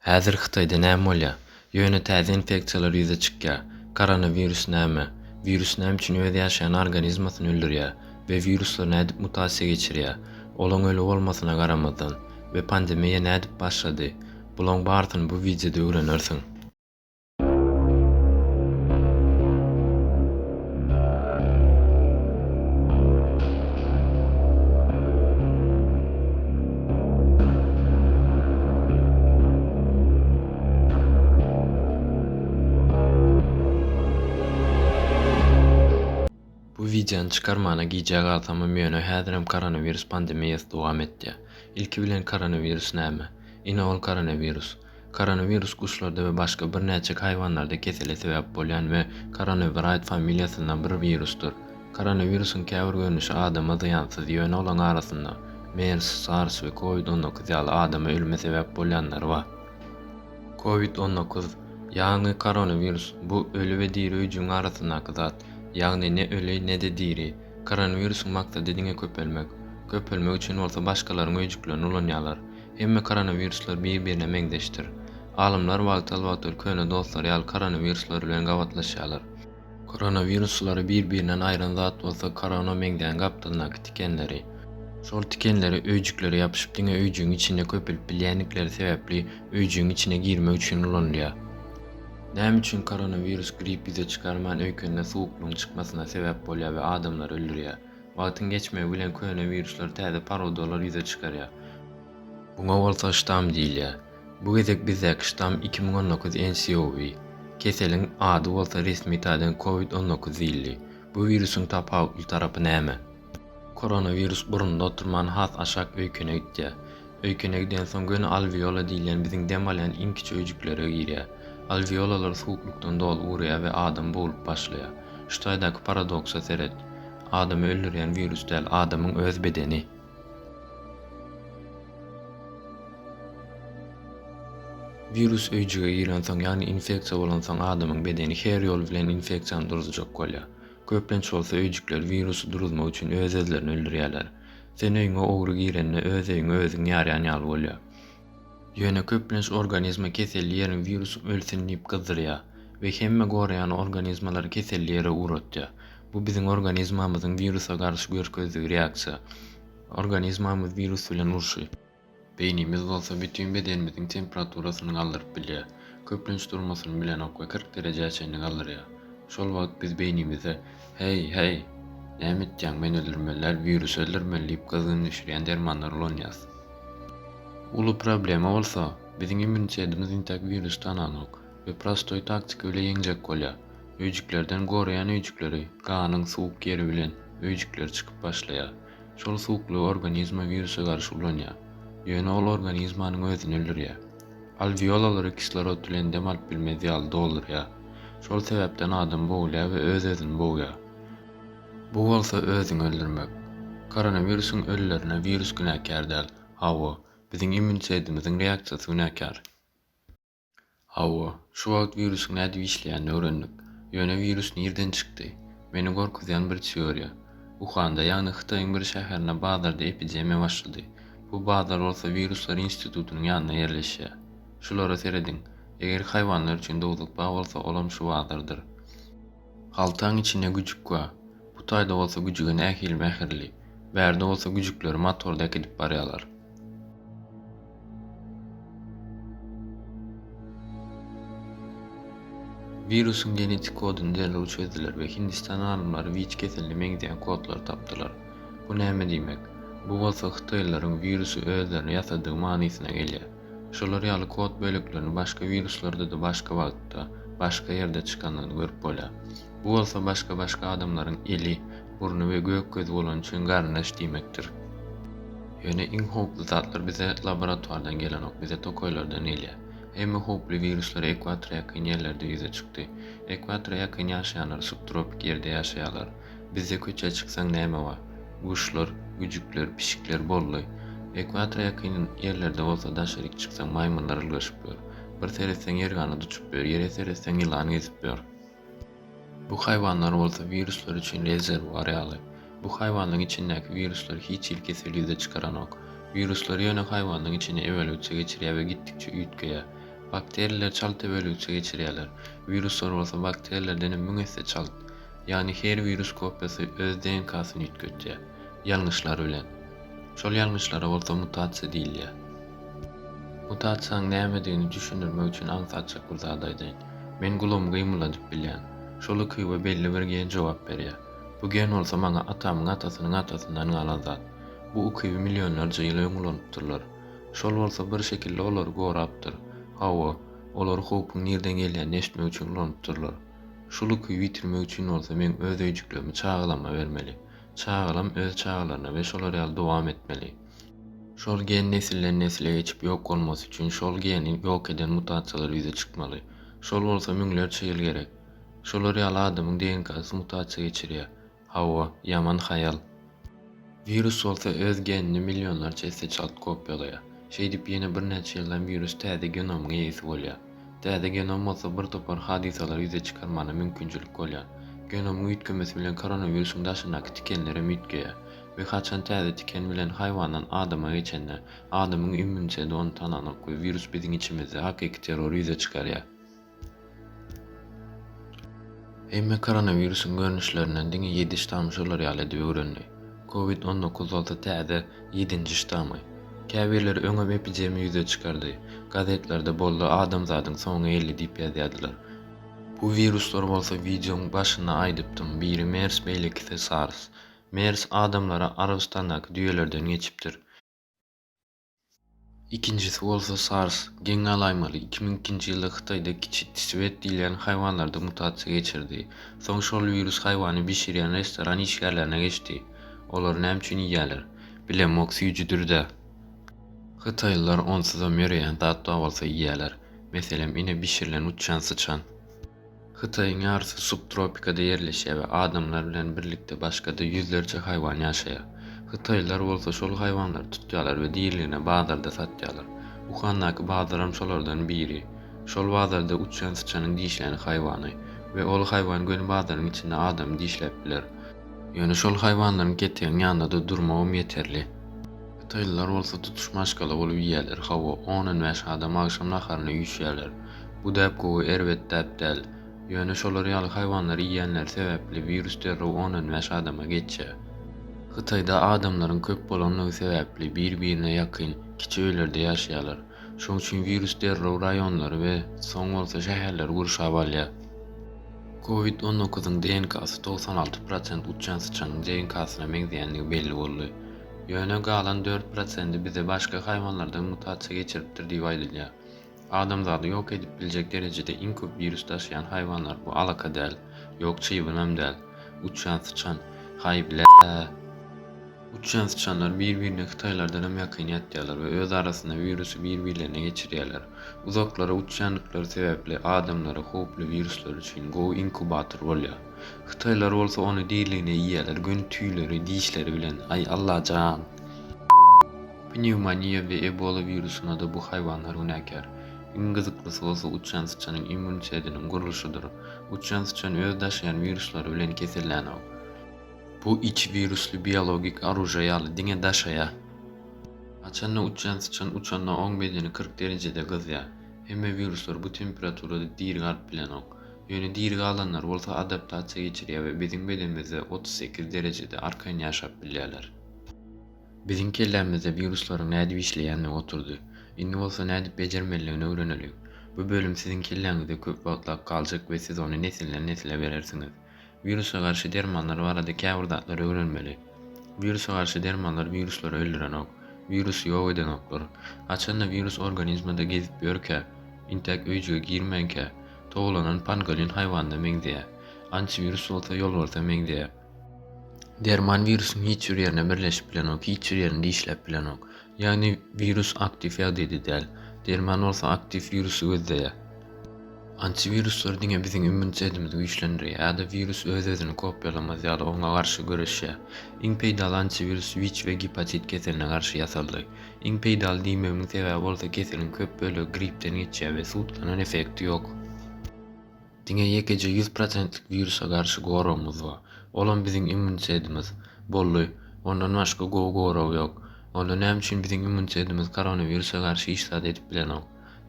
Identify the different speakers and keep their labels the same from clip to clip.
Speaker 1: Häzir Hytaýda näme bolýar? Ýöne täze infeksiýalar ýüze çykýar. Koronawirus näme? Wirus näme üçin öz ýaşaýan organizmasyny öldürýär we wiruslar nädip mutasiýa geçirýär? Olaň öli bolmasyna garamazdan we pandemiýa nädip başlady? Bulaň barysyny bu wideoda öwrenersiň. Bu wideony çykarmana gijä galsamam ýöne häzirem koronawirus pandemiýasy dowam etýär. Ilki bilen koronawirus näme? Ine ol koronawirus. Koronawirus guşlarda we başga birnäçe haýwanlarda kesele sebäp bolýan we Coronaviride familiýasyndan bir wirusdyr. Koronawirusyň käbir görnüşi adama zyýansyz, ýöne olaň arasynda mers, sars we covid on dokuz ýaly adama ölüme sebäp bolýanlary bar. Covid on dokuz, ýagny koronawirus, bu öli we diri öýjügiň arasyndaky zat, ýagny ne öli, ne-de diri. Koronawirusyň maksady diňe köpelmek. Köpelmek üçin bolsa başgalaryň öýjüklerini ulanýarlar. Hemme koronawiruslar bir-birine meňzeşdir. Alymlar wagtal-wagtal köne dostlary ýaly koronawiruslar bilen gabatlaşýarlar. Koronawiruslary bir-birinden aýyran zat bolsa korona meňzeýän gapdalyndaky tikenleri. Şol tikenleri öýjüklere ýapyşyp diňe öýjügiň içinde köpelip bilýändikleri sebäpli öýjügiň içine girmek üçin ulanylýar. Näme üçin koronawirus grip ýüze çykarman öýkende suwuklygyň çykmasyna sebäp bolýar we adamlary öldürýär? Wagtyň geçmegi bilen köne wiruslar täze parodalar ýüze çykarýar. Buňa bolsa ştamm diýilýär. Bu gezek bizdäki ştamm iki müň on dokuz NCOV. Keseliň ady bolsa resmi taýdan covid on dokuz diýildi. Bu wirusyň tapawutly tarapy näme? Koronawirus burunda oturman has aşak öýkene gitýär. Öýkene gidensoň göni alweola diýilýän biziň dem alýan iň kiçi öýjüklere girýär. Alweolalar suwuklykdan doly urýar we adam boglup başlaýar. Şu taýdaky paradoksa seret. Adamy öldürýän wirus däl, adamyň öz bedeni. Wirus öýjüge girensoň, ýagny infeksiýa bolansoň adamyň bedeni her ýol bilen infeksiýany duruzjak bolýar. Köplenç bolsa öýjükler wirusy duruzmak üçin öz-özlerini öldürýärler. Sen öýüňe ogry girende öz öýüňi özüň ýarýan ýaly bolýar. Ýöne köplenç organizma keselli ýerini wirus ölsün diýip gyzdyrýar we hemme goraýan organizmalary keselli ýere ugratýar. Bu biziň organizmamyzyň wirusa garşy görkezdigi reaksiýa. Organizmamyz wirus bilen urşy. Beýnimiz bolsa bütin bedenimiziň temperaturasyny galdyryp bilýär. Köplenç durmasyny bilenok we kyrk derejä çenli galdyrýar. Şol wagt biz beýnimize, Heý, heý! Näme etýäň, men öldürmeliler, wirusy öldürmeli diýip gyzgyn düşürýän dermanlary ulanýarys. Uly problema bolsa, biziň immunitetimiz intäk wirusy tananok we prostoý taktika bile ýeňjek bolýar. Öýjüklerden goraýan öýjükleri, ganyň suwuk ýeri bilen öýjükler çykyp başlaýar. Şol suwuklygy organizma wirusa garşy ulanýar. Ýöne ol organizmanyň özüni öldürýär. Alweolalary kislorod bilen dem alyp bilmez ýaly doldurýar. Şol sebäpden adam bogulýar we öz-özüni bogýar. Bu bolsa özüňi öldürmek. Koronawirusyň ölülerine wirus günäkär däl. Hawa, biziň immunitetimiziň reaksiýasy günäkär. Hawa, şu wagt wirusyň nädip işleýänini öwrendik. Ýöne wirus nirden çykdy? Meni gorkuzýan bir teoriýa. Uhanda, ýagny Hytaýyň bir şäherinde bazarda epidemiýa başlady. Bu bazar bolsa Wiruslar institutynyň ýanynda ýerleşýär. Şulara serediň. Eger haýwanlar üçin dowzuk bar bolsa, olam şu bazardyr. Haltaň içinde güjük bar. Bu taýda bolsa güjüge nähili mähirli. Bärde bolsa güjükleri motorda äkidip barýarlar. Wirusyň genetik kodyny derrew çözdüler we Hindistan alymlary wic keseline meňzeýän kodlary tapdylar. Bu näme diýmek? Bu bolsa hytaýlylaryň wirusy özlerine ýasadygy manysyna gelýär. Şolar ýaly kod böleklerini başga wiruslarda-da başga wagtda, başga ýerde çykanyny görüp bolýar. Bu bolsa başga-başga adamlaryň eli, burny we gök gözi bolany üçin garyndaş diýmekdir. Ýöne iň howply zatlar bize laboratuardan gelenok, bize tokaýlardan gelýär. Hemme howply wiruslar ekwatora ýakyn ýerlerde ýüze çykdy. Ekwatora ýakyn ýaşaýanlar subtropik ýerde ýaşaýarlar. Bizde köçä çyksaň näme bar? Guşlar, güjükler, pişikler boldy. Ekwatora ýakyn ýerlerde bolsa daşaryk çyksaň maýmynlar ylgaşyp ýör. Bir seretseň ýer ganat uçup ýör, ýere seretseň ýylan gezip ýör. Bu haýwanlar bolsa wiruslar üçin rezerwuar ýaly. Bu haýwanlaryň içindäki wiruslar hiç hili kesel ýüze çykaranok. Wiruslar ýöne haýwanlaryň içine ebelgçe geçirýär we gitdikçe üýtgeýär. Bakteriler çalt ebelgçe geçirýärler. Wiruslar bolsa bakterilerdenem müň esse çalt. Ýagny her wirus kopiýasy öz DNK-syny üýtgetýär, ýalňyşlar bilen. Şol ýalňyşlara bolsa mutasiýa diýilýär. Mutasiýanyň nämedigini düşündirmek üçin aňsatjak bir zat aýdaýyn. Men gulumy gymylladyp bilýän. Şol ukyba belli bir gen jogap berýär. Bu gen bolsa maňa atamyň atasynyň atasyndan galan zat. Bu ukyby millionlarça ýyl öň ulanypdyrlar. Şol bolsa bir şekilde olary gorapdyr. Hawa, olary howpuň nirden gelýänini eşitmek üçin ulanypdyrlar. Şu luky bitirmek üçin bolsa men öz öýjüklerimi çagalamma bermeli. Çagalam öz çagalaryna we şolar ýaly dowam etmeli. Şol gen nesilden nesle geçip ýok bolmasy üçin şol geni ýok eden mutasiýalar ýüze çykmaly. Şol bolsa müňlerçe ýyl gerek. Şolar ýaly adamyň DNK-sy mutasiýa geçirýär. Hawa, ýaman haýal. Wirus bolsa öz genini millionlarça esse çalt kopiýalaýar. Şeýdip ýene birnäçe ýyldan wirus täze genomyň eýesi bolýar. Täze genom bolsa bir topar hadysalary ýüze çykarmana mümkinçilik bolýar. Genomyň üýtgemesi bilen koronawirusyň daşyndaky tikenler hem üýtgeýär we haçan täze tiken bilen haýwandan adama geçende, adamyň immuniteti ony tananyk we wirus biziň içimizde hakyky terrory ýüze çykarýar. Emme koronawirusyň görnüşlerinden diňe ýedi ştam şolar ýaly edip öwrendi. Covid on dokuz bolsa täze, ýedinji ştamy. Käbirleri öňem epidemiýa ýüze çykardy. Gazetlerde boldy adamzadyň soňy geldi diýip ýazýardylar. Bu wiruslar bolsa wideoň başynda aýdypdym, biri mers beýlekisi sars. Mers adamlara Arabystandaky düýelerden geçipdir. Ikinjisi bolsa SARS. Geň galaýmaly, iki müň ikinji ýylda Hytaýda kiçi tiswet diýilýän haýwanlarda mutasiýa geçirdi. Soň şol wirus haýwany bişirýän restoran işgärlerine geçdi. Olar näme üçin iýýärler? Bilemok, süýjüdir-dä. Hytaýlylar onsuzam ýöreýän zat bar bolsa iýýärler. Meselem, ine bişirilen uçýan syçan. Hytaýyň ýarysy subtropikada ýerleşýär we adamlar bilen birlikde başga-da ýüzlerçe haýwan ýaşaýar. Hytaýlylar bolsa şol haýwanlary tutýarlar we diriligine bazarda satýarlar. Uhandaky bazaram şolardan biri. Şol bazarda uçýan syçanyň dişlän haýwany we ol haýwan göni bazaryň içinde adamy dişläp biler. Ýöne şol haýwanlaryň ketegiň ýanynda-da durmagam ýeterli. Hytaýlylar bolsa tutuş maşgala bolup iýýärler, hawa, on-on bäş adam agşam naharyna üýşýärler. Bu däp gowy, erbet däp däl. Ýöne şolar ýaly haýwanlary iýýänleri sebäpli wirus derrew on-on bäş adama geçýär. Hytaýda adamlaryň köp bolanlygy sebäpli bir-birine ýakyn, kiçi öýlerde ýaşaýarlar. Şoň üçin wirus derrew raýonlary we soň bolsa şäherleri gurşap alýar. Covid on dokuzyň DNK-sy togsan alty prosent uçan syçanyň DNK-syna meňzeýändigi belli boldy. Ýöne galan dört prosendi bize başga haýwanlardan mutasiýa geçiripdir diýip aýdylýar. Adamzady ýok edip biljek derejede iň köp wirus daşaýan haýwanlar bu alaka däl, ýok çybynam däl, uçýan syçan, haý bläää. Uçýan syçanlar bir-birine hytaýlardanam ýakyn ýatýarlar we öz arasynda wirusy bir-birlerine geçirýärler. Uzaklara uçýandyklary sebäpli adamlara howply wiruslar üçin gowy inkubator bolýar. Hytaýlar bolsa ony diriligine iýýärler, göni tüýleri, dişleri bilen, aý Allajan! Pnewmoniýa we Ebola wirusyna-da bu haýwanlar günäkär. Iň gyzyklysy bolsa uçýan syçanyň immunitetiniň gurluşydyr. Uçýan syçan öz daşaýan wiruslary bilen kesellänok. Bu içi wirusly biologik oružýe ýaly diňe daşaýar. Haçan-da uçýan syçan uçanda oň bedeni kyrk derejede gyzýar. Hemme wiruslar bu temperaturada diri galyp bilenok. Ýöne diri galanlar bolsa adaptasiýa geçirýär we biziň bedenimizde otuz sekiz derejede arkaýyn ýaşap bilýärler. Biziň kellämizde wiruslaryň nädip işleýändigi oturdy. Indi bolsa nädip bejermelidigini öwreneliň. Bu bölüm siziň kelläňizde köp wagtlap galjak we siz ony nesilden-nesle berersiňiz. Wirusa garşy dermanlar barada käbir zatlary öwrenmeli. Wirusa garşy dermanlar wiruslary öldürenok. Wirusy ýok edenoklar. Haçanda wirus organizmada gezip ýörkä, intäk öýjüge girmänkä, towlanan pangolin haýwanyna meňzeýär. Antiwirus bolsa ýolbarsa meňzeýär. Derman wirusyň hiç bir ýerine birleşip bilenok, hiç bir ýerini dişläp bilenok. Ýagny wirus aktiw ýagdaýda däl. Derman bolsa aktiw wirusy gözleýär. Antiwiruslar diňe biziň immunitetimizi güýçlendirýär ýa-da wirus öz-özüni kopýalamaz ýaly oňa garşy göreşýär. Iň peýdaly antiwirus WIC we gepatit keseline garşy ýasaldy. Iň peýdaly diýmegimiň sebäbi bolsa keseliň köp bölegi gripden geçýär we sutkanan effekti ýok. Diňe ýekeje ýüz prosentlik wirusa garşy goragymyz bar. Olam biziň immunitetimiz. Boldy. Ondan başga gowy gorag ýok. Onda näme üçin biziň immunitetimiz koronawirusa garşy hiç zat edip bilenok?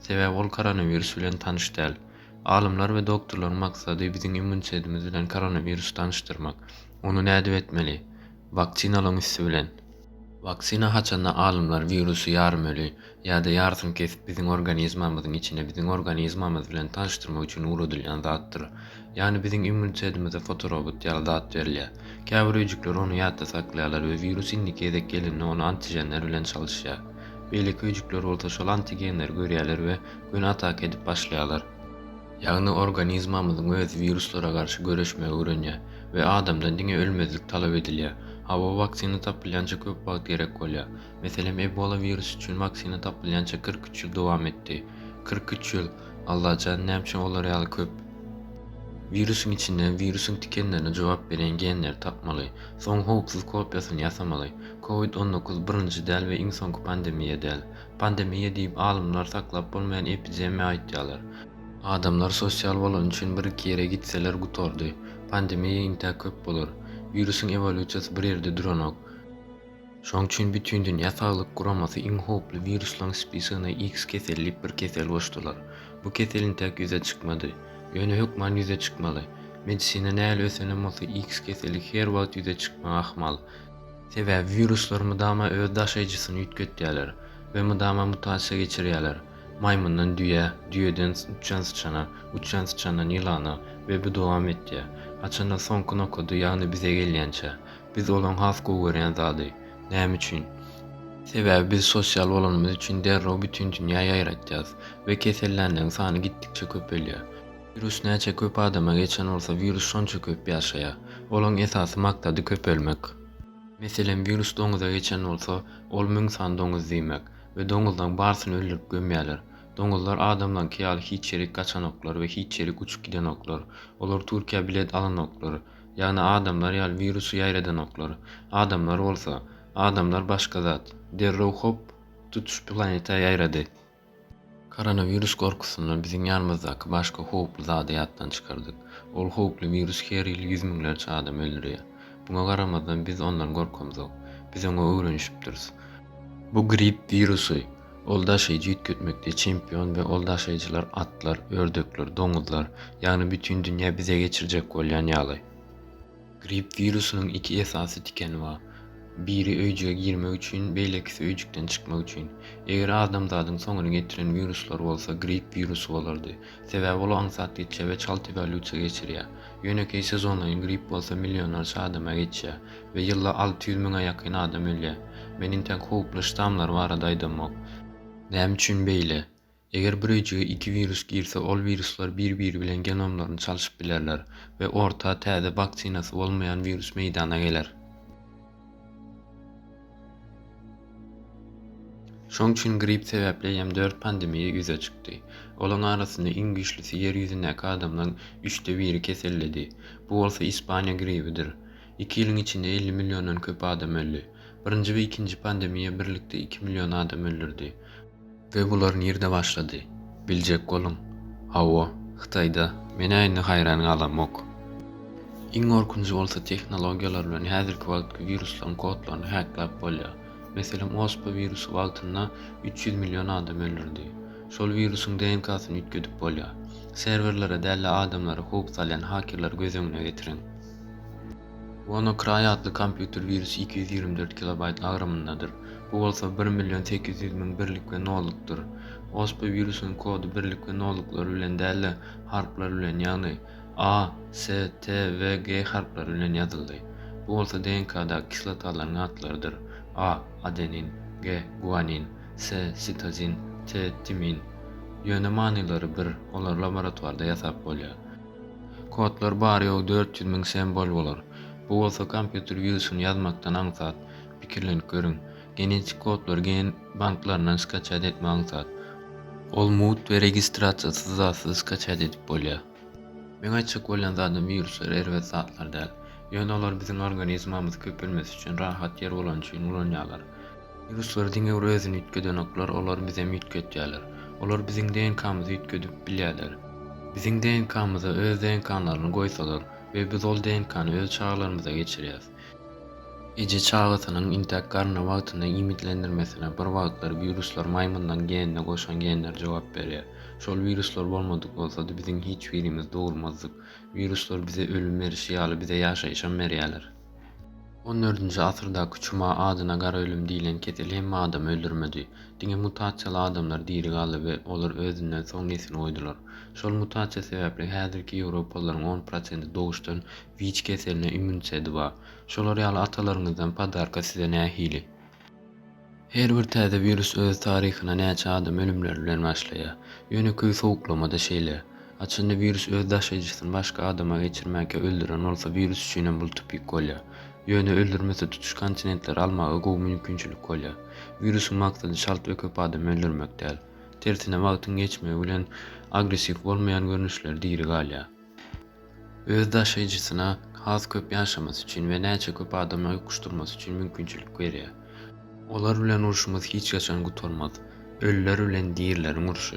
Speaker 1: Sebäbi ol koronawirus bilen tanyş däl. Alymlar we doktorlaryň maksady biziň immunitetimiz bilen koronawirusy tanyşdyrmak. Ony nädip etmeli? Waksinalaryň üsti bilen. Waksina haçanda alymlar wirusy ýarym öli ýa-da ýarsyny kesip biziň organizmamyzyň içine biziň organizmamyz bilen tanyşdyrmak üçin ugradylýan zatdyr. Ýagny biziň immunitetimize fotorobot ýaly zat berilýär. Käbir öýjükler ony ýatda saklaýarlar we wirus indiki gezek gelende ony antiženler bilen çalyşýar. Beýleki öýjükler bolsa şol antigenleri görýärler we göni ataka edip başlaýarlar. Ýagny organizmamyzyň özi wiruslara garşy göreşmegi öwrenýär we adamdan diňe ölmezlik talap edilýär. Hawa, waksina tapylýança köp wagt gerek bolýar. Meselem, Ebola wirusy üçin waksina tapylýança kyrk üç ýyl dowam etdi. Kyrk üç ýyl! Allajan, näme üçin olar ýaly köp? Wirusyň içinden wirusyň tikenlerine jogap berýän genleri tapmaly. Soň howpsuz kopiýasyny ýasamaly. Covid on dokuz birinji däl we iň soňky pandemiýa däl. Pandemiýa diýip alymlar saklap bolmaýan epidemiýa aýtýalar. Adamlar sosial bolany üçin bir-iki ýere gitseler gutardy. Pandemiýa intä köp bolar. Wirusyň ewolýusiýasy bir ýerde duranok. Şoň üçin Bütindünýä saglyk guramasy iň howply wiruslaryň spisigine X keseli diýip bir kesel goşdular. Bu kesel intäk ýüze çykmady. Ýöne hökman ýüze çykmaly. Medisina nähili ösenem bolsa X keseli her wagt ýüze çykmagy ahmal. Sebäbi wiruslar mydama öz daşaýjysyny üýtgetýärler we mydama mutasiýa geçirýärler, maýmyndan düýä, düýeden uçan syçana, uçan syçandan ýylana we bu dowam etýär. Haçanda soňky nokady, ýagny bize gelýänçä. Biz olaň has gowy görýän zady. Näme üçin? Sebäbi biz sosial bolanymyz üçin derrew bütin dünýä ýaýratýarys we kesellänleriň sany gitdikçe köpelýär. Wirus näçe köp adama geçen bolsa wirus şonça köp ýaşaýar. Olaň esasy maksady köpelmek. Meselem wirus doňuza geçen bolsa ol müň sany doňuz diýmek we doňuzlaň barsyny öldürip gömýäler. Doňuzlar adamlaňky ýaly hiç ýerik gaçanoklar we hiç ýerik uçup gidenoklar. Olar Türkiýä bilet alanoklar. Ýagny adamlar ýaly wirusy ýaýradanoklar. Adamlar bolsa. Adamlar başga zat. Derrew hop tutuş planeta ýaýrady. Koronawirus gorkusyndan biziň ýanymyzdaky başga howply zady ýatdan çykardyk. Ol howply wirus her ýyl ýüz müňlerçe adamy öldürýär. Muňa garamazdan biz ondan gorkamzok. Biz oňa öwrenişipdiris. Bu grip wirusy. Ol daşaýjy üýtgetmekde çempion we ol daşaýjylar atlar, ördekler, doňuzlar, ýagny bütin dünýä bize geçirjek bolýan ýaly. Grip wirusynyň iki esasy tikeni bar. Biri öýjüge girmek üçin, beýlekisi öýjükden çykmak üçin. Eger adamzadyň soňuny getiren wiruslar bolsa grip wirusy bolardy. Sebäbi ol aňsat geçýär we çalt ewolýusiýa geçirýär. Ýönekeý sezonlaýyn grip bolsa millionlarça adama geçýär we ýylda alty ýüz müňe ýakyn adam ölýär. Men intäk howply ştammlar barada aýdamok. Näme üçin beýle? Eger bir öýjüge iki wirus girse, ol wiruslar bir-biri bilen genomlaryny çalşyp bilerler we orta täze waksinasy bolmaýan wirus meýdana geler. Şoň üçin grip sebäpli eýýäm dört pandemiýa ýüze çykdy. Olaň arasynda iň güýçlüsi ýer ýüzündäki adamlaryň üçde biri keselledi. Bu bolsa Ispaniýa gribidir. Iki ýylyň içinde elli milliondan köp adam öldi. Birinji we ikinji pandemiýa birlikde iki million adam öldürdi. We bular nirde başlady? Biljek boluň. Hawa, Hytaýda. Menä indi haýran galamok. Iň gorkunjy bolsa tehnologiýalar bilen häzirki wagtky wiruslaryň kodlaryny häklap bolýar. Meselem ospa wirusy wagtynda üç ýüz million adam öldürdi. Şol wirusyň DNK-syny üýtgedip bolýar. Serwerlere däl-de adamlara howp salýan hakerleri göz öňüne getiriň. WannaCry atly kompýuter wirus iki ýüz ýigrimi dört kilobaýt agramyndadyr, bu bolsa bir million sekiz ýüz müň birlik we nollukdyr. Оспа wirusynyň kody birlik we nolluklary bilen däl-de, harplar bilen, ýagny A, S, T we G harplary bilen ýazyldy. Bu bolsa DNK-daky kislotalaryň atlarydyr, A, adenin, G, guanin, S, sitozin, T, timin. Ýöne manylary bir, olary laboratwarda ýasap bolýar. Kodlar bary-ýogy dört ýüz müň sembol bolar. Bu bolsa kompýuter wirusyny ýazmakdan aňsat. Pikirlenip görüň. Genetik kodlary gen banklaryndan skaçýat etmek aňsat. Ol mugt we registrasiýasyz zatsyz skaçýat edip bolýar. Meň aýtjak bolýan zadym wiruslar erbet zatlar däl. Ýöne olary biziň organizmamyz köpelmesi üçin rahat ýer bolany üçin ulanýarlar. Wiruslar diňe bir özüni üýtgedenoklar, olar bizem üýtgetýärler. Olar biziň DNK-myzy üýtgedip bilýärler. Biziň DNK-myza öz DNK-laryny goýsalar we biz ol DNK-ny öz çagalarymyza geçirýäs. Eje çagasynyň intäk garny wagtynda iýmitlendirmesine bir wagtlar wiruslar maýmynlaryň genine goşan genler jogap berýär. Şol wiruslar bolmadyk bolsady biziň hiç birimiz dogulmazdyk. Wiruslar bize ölüm berişi ýaly bize ýaşaýyşam berýärler. On dördünji asyrdaky çuma adyna gara ölüm diýlen kesel hemme adamy öldürmedi. Diňe mutasiýaly adamlar diri galdy we olar özünden soň nesil goýdular. Şol mutasiýa sebäpli häzirki ýewropalylaryň on prosenti doguşdan wich keseline immunitedi bar. Şolar ýaly atalaryňyzdan podarka size nähili? Her bir täze wirus öz taryhyna näçe adam ölümleri bilen başlaýar. Ýönekeý sowuklama-da şeýle. Haçanda wirus öz daşaýjysyny başga adama geçirmäkä öldüren bolsa wirus üçinem bul tüpik bolýar. Ýöne öldürmese tutuş kontinentleri almaga gowy mümkinçilik bolýar. Wirusyň maksady çalt we köp adam öldürmek däl. Tersine wagtyň geçmegi bilen agressiw bolmaýan görnüşleri diri galýar. öz daşaýjysyna has köp ýaşamasy üçin we näçe köp adamyny utgaşdyrmasy üçin mümkinçilik berýär. Olar bilen urşumyz hiç haçan gutarmaz. Ölüler bilen dirileriň urşy.